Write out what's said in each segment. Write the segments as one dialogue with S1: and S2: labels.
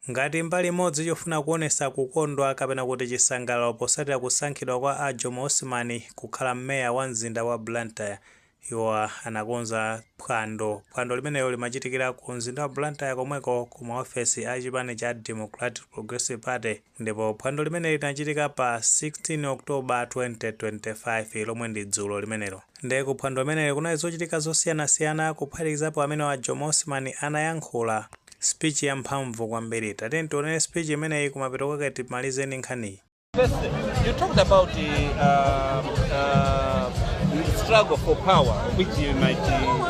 S1: Ngati mbali imodzi chofuna kuonesa kukondwa kapena kuti chisangalalo posatira kusankhidwa kwa a Jomo Osman kukhala Mayor wa mzinda wa Blantyre, iwo anakonza phwando. Phwando limenelo limachitikira ku mzinda wa Blantyre komweko ku ma ofesi a chipani cha Democratic Progressive Party. Ndipo phwando limeneli linachitika pa 16 October 2025 lomwe ndi dzulo limenelo. Nde ku phwando limeneli kunali zochitika zosiyanasiyana kuphatikizapo amenewa Jomo Osman anayankhula speech ya mphamvu kwambiri. Tatiyeni tione speech imeneyi kumapeto kwake timalizeni nkhaniyi.
S2: First, you talked about the uh, uh, struggle for power, which you might uh,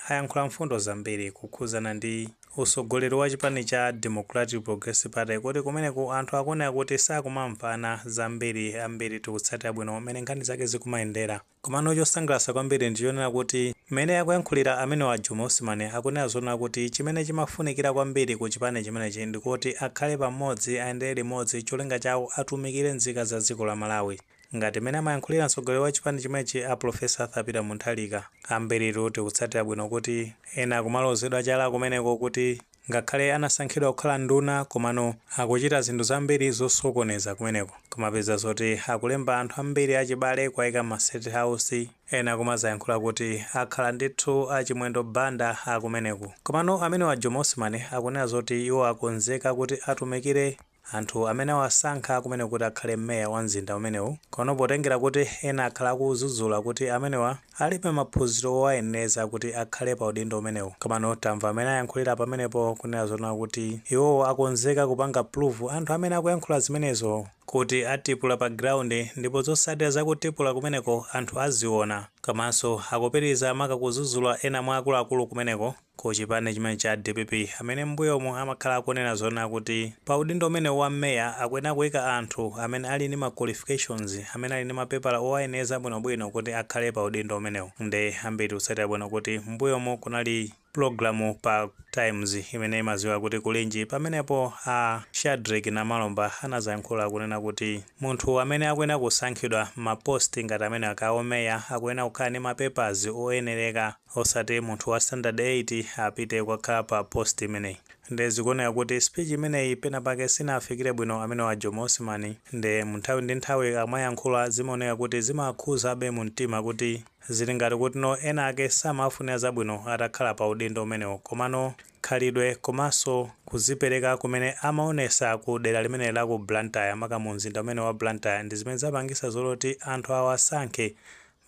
S1: ayankhula mfundo zambiri kukhudzana ndi utsogoleri wa chipani cha Democratic Progressive Party kuti kumeneku anthu akuonera kuti sakumamvana zambiri ambiri tikutsatira bwino mmene nkhani zake zikumayendera komano chosangalatsa kwambiri ndi chonena kuti mmene akuyankhulira amenewa Jomo Osman akunena zonena kuti chimene chimafunikira kwambiri ku chipani chimenechi ndikuti akhale pamodzi ayendere limodzi cholinga chawo atumikire nzika za dziko la Malawi Ngati mmene amayankhulira mtsogoleri wa chipani chimwechi a Prof Arthur Peter Mutharika, ambiritu tikutsatira bwino kuti ena akumalozedwa chala kumeneko kuti ngakhale anasankhidwa kukhala nduna komano akuchita zinthu zambiri zosokoneza kumeneku kumapeza zoti akulemba anthu ambiri achibale kuwaika mma state house ena kumazayankhula kuti akhala ndithu a Chimwendo Banda akumeneku komano amenewa Jomo Osman akunena zoti iwo akonzeka kuti atumikire Anthu amene awasankha kumene kuti akhale mayor wa mzinda umenewu kono potengera kuti ena akhala akuwadzudzula kuti amenewa alibe maphunziro owayeneleza kuti akhale pa udindo umenewu komano tamva mmene ayankhulira pamenepo kunena zonena kuti iwowo akonzeka kupanga prove anthu amene akuyankhula zimenezo kuti atipula pa ground ndipo zotsatira za kutipula kumeneko anthu aziona komanso akupitiliza maka kuzudzula ena mwa akuluakulu kumeneko ku chipani chimene cha dpp amene m'mbuyomu amakhala akunena zonena kuti pa udindo umenewu wa mayor akuyenera kuika anthu amene ali ndi ma qualifications amene ali ndi mapepala owayenereza bwinobwino kuti akhale pa udindo umenewu nde ambiri tikutsatira bwino kuti m'mbuyomu kunali program pa times imene imaziwika kuti kulinji pamenepo a Shadreck Namalomba anazayankhula kunena kuti munthu amene akuyenera kusankhidwa m'ma post ngati amenewa kaya a mayor akuyenera kukhala ndi ma papers oyenereka osati munthu wa standard 8 apite kukakhala pa post imeneyi nde zikuoneka kuti speech imeneyi pena pake sinaafikire bwino amenewa Jomo Osman nde mu nthawi ndi nthawi akamayankhula zimaoneka kuti zimawakhudzabe mu mtima kuti zili ngati kutino ena ake samawafunira zabwino atakhala pa udindo umenewu komano khalidwe komanso kuzipereka kumene amaonesa ku dera limeneli la ku Blantyre maka mu mzinda umenewu wa Blantyre ndi zimene zapangisa zoti anthu awasankhe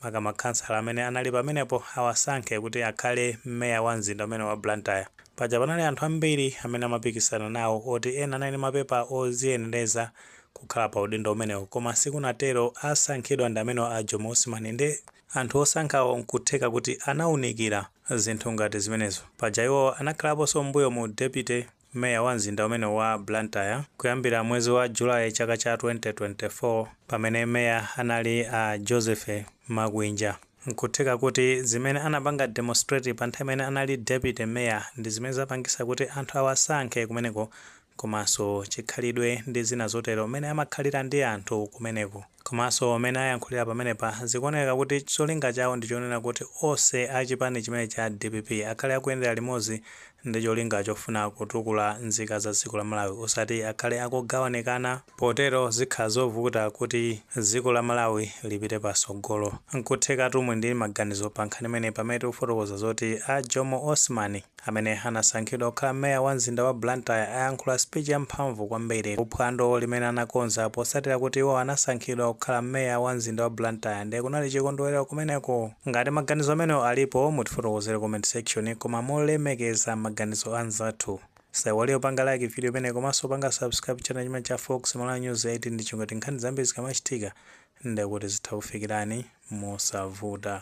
S1: Maka makhansala amene anali pamenepo awasankhe kuti akhale meya wa mzinda umenewu wa Blantyre. Paja panali anthu ambiri amene amapikisana nawo oti ena anali ndi mapepa oziyenereza kukhala pa udindo umenewo koma sikunatero asankhidwa ndi amenewa a Jomo Osman nde anthu osankhawo nkutheka kuti anaunikira zinthu ngati zimenezo paja iwowo anakhalaponso m'mbuyomu deputy Meya wa mzinda umenewu wa Blantyre kuyambira mwezi wa July chaka cha 2024 pamene meya anali a Joseph Makwinja. Nkutheka kuti zimene anapanga demonstrate pa nthawi imene anali deputy mayor ndi zimene zapangisa kuti anthu awasankhe kumeneko komanso chikhalidwe ndi zina zotero mmene amakhalira ndi anthu kumeneko. Komanso mmene ayankhulira pamenepa zikuoneka kuti cholinga chawo ndichonena kuti onse a chipani chimenechi cha dpp akhale akuyendera limodzi ndicholinga chofuna kutukula nzika za dziko la Malawi osati akhale akugawanikana, potero zikhala zovuta kuti dziko la Malawi lipite patsogolo. Nkuthekatu muli ndi maganizo pa nkhani imeneyi pamene tikufotokoza zoti a Jomo Osman. Amene anasankhidwa kukhala meya wa mzinda wa Blantyre ayankhula speech ya mphamvu kwambiri ku phwando limene anakonza potsatira kuti iwo anasankhidwa kukhala meya wa mzinda wa Blantyre nde kunali chikondwelero kumeneko. Ngati maganizo amenewo alipo mutifotokozere comment section koma molemekeza maganizo anzathu. Osaiwala kupanga like video imeneyi komanso kupanga subscribe channel chimenechi cha Fox Malawi News 8 ndi cholinga choti nkhani zambiri zikamachitika ndekuti zitha kukufikirani mosavuta.